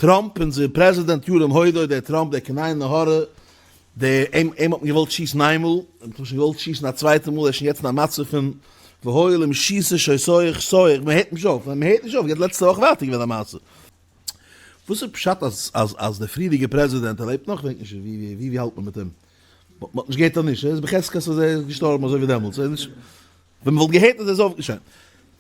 טראמפ אונזער פרעזידענט ירום הודו דער טראמפ דער קנאי נהורא דער אים אים האט מען געוואלט שיסן איינמאל און מען האט אים שוין געוואלט שיסן א צווייטע מאל ער איז שוין יעצט אין א מצב פון והואיל אים שיסן שוין סויעך סויעך מען הערט נישט אויף מען הערט נישט אויף יעצט לעצטע וואך ווייטער געווען א מעשה וואס איז פשט אז אז אז דער פריערדיגער פרעזידענט ער לעבט נאך כ'ווייס נישט ווי ווי ווי האלט מען מיט אים מען האט נישט געהערט ער איז נישט ער איז בחזקת אז ער איז געשטארבן אזוי ווי דעמאלטס ער איז נישט ווען מ'וואלט געהערט אז ער איז אויפגעשטאנען.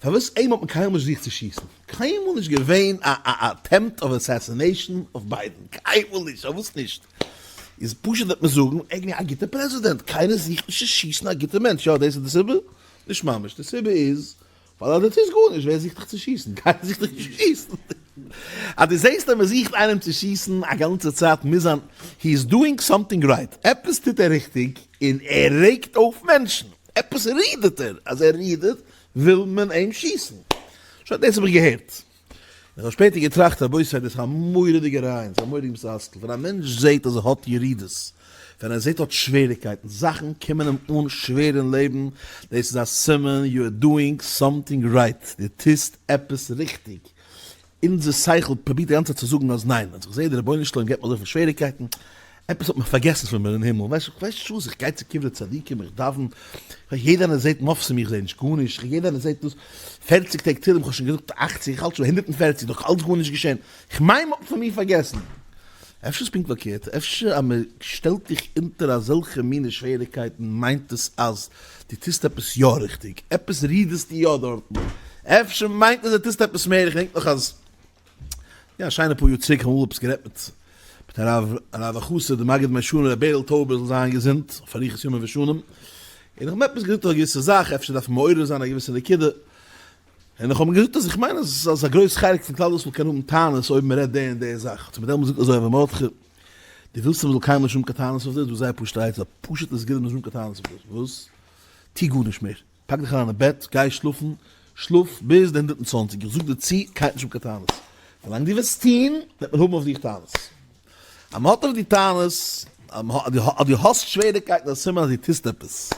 פארוואס איהם האט מען קיינמאל נישט געזוכט צו שיסן? קיינמאל נישט געווען א א אטעמפט אוו אסעסינעישן אויף ביידן, קיינמאל נישט, פארוואס נישט? איז פשוט וועט מען זאגן ער איז געווען א גוטער פרעזידענט, קיינער זוכט נישט צו שיסן א גוטער מענטש, יא דאס איז די סיבה? נישט ממש, די סיבה איז ווייל אז דו טוסט גארנישט ווער זוכט דיך צו שיסן? קיינער זוכט דיך נישט צו שיסן. אז דו זעהסט אז מען זוכט איינעם צו שיסן א גאנצע צייט מוז זיין he is doing something right, עפעס טוט ער ריכטיג און ער רעגט אויף מענטשן. עפעס רודערט ער, אז ער רודערט וויל מען אים שיסן. שוין דאס האב איך געהערט. איך האב שפעטער געטראכט אבי סאיז דאס א מורא'דיגע רעיון, סאיז א מורא'דיג מתסכל, ווען א מענטש זעהט אז ער האט ירידות, ווען ער זעהט ער האט שוועריקייטן, זאכן קומען אים אן שווער אין לעבן, דאס איז א סימן יו אר דואינג סאמטינג רייט, די טוסט עפעס ריכטיג. אונזער שכל פרובירט די גאנצע צייט צו זאגן אז ניין, אז איך זעה די רבונו של עולם געבט מיר אזויפיל שוועריקייטן, עפעס האט מען פארגעסן פון מיר אין הימל, ווייסט איך ווייס נישט וואס, איך גיי צו קברי צדיקים, איך דאווען, יעדער איינער זעט מופתים, איך זעה נישט גארנישט, איך יעדער איינער זעט דאס, פערציג טעג תהלים, איך האב שוין געזאגט אכציג, איך האלט שוין ביי הונדערט און פערציג, נאך אלץ גארנישט געשען, איך מיין מען האט פון מיר פארגעסן. אפשר איז פונקט פארקערט, אפשר אז מען שטעלט דיך אונטער אזעלכע מיני שוועריקייטן מיינט עס אז דו טוסט עפעס יא ריכטיג, עפעס רידערסטו יא דארטן, אפשר מיינט עס אז דו טוסט עפעס מער, איך דענק נאך אז יא א שיינע פאר יאר צוריק האמיר עפעס גערעדט מיט מיט הרב הרב החסיד דער מגיד מישרים ר' בערל טויבער זאל זיין געזונט אויף אריכות ימים ושנים, און איך האב עפעס געזאגט אויף א געוויסע זאך, אפשר דארף מען מעורר זיין א געוויסע נקודה, און איך האב אים געזאגט אז איך מיין אז א גרויס חלק פון כלל ישראל קען האבן טענות אויב מען רעדט די און די זאך, האט ער מיר דעמאלטס געזאגט אזוי הרב מרדכי. די ווילסט איך זאל קיימען שום קטנות אויף דאס? דאס איז זייער פשוט א עצה, פשוט עס געבן שום קטנות אויף דאס, וואס? טו גארנישט מער, פאק דיך אריין אין בעט, גיי שלאפן, שלאף ביז די הונדערט און צוואַנציק, איך זאג דיר צו, קיין שום קטנות, ווילאנג דו וועסט טון, וועט מען האבן אויף דיך טענות, אז מען האט אויף דיר טענות, אז דו האסט שוועריקייטן, איז א סימן אז דו טוסט עפעס.